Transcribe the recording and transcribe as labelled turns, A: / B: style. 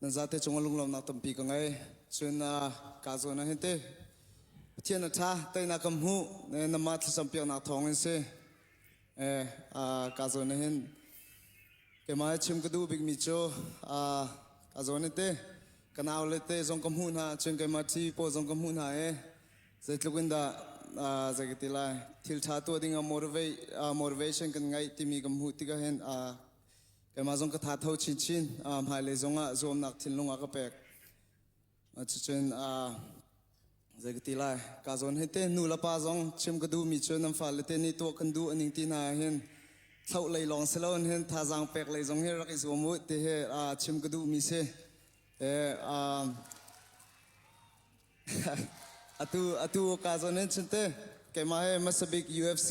A: nan zate cung a lunglonak tampi ka ngei cun kaa zawn ah hin te pathian a ṭha teinak kan hmuh nanmah thlacam piaknak thawng in si kaa zawn ah hin keimah i chim ka duh bikmi cu kaa zawn in te ka nau le te zong ka hmuh hna cun keimah ṭhi paw zong ka hmuh hna i zeitluk in dah zei ka ti lai thil ṭha tuah ding ah motivation kan ngeih timi kan hmuh tikah hin Keimah zong ka tha tho chinchin. Uh, hmailei zongah zuamnak thinlung a ka pek. Uh, cucun uh, zei ka ti lai. Ka zawn hei te nu le pa zong chim ka duhmi cu nan fa le te nih tuah kan duh aning ti na hin thlau lei lawng si lo hin thazaang pek lei zong hi rak i zuam u ti he uh, chim ka duhmi si. E, uh, atu atu ka zawn hin chinte keimah he masabik UFC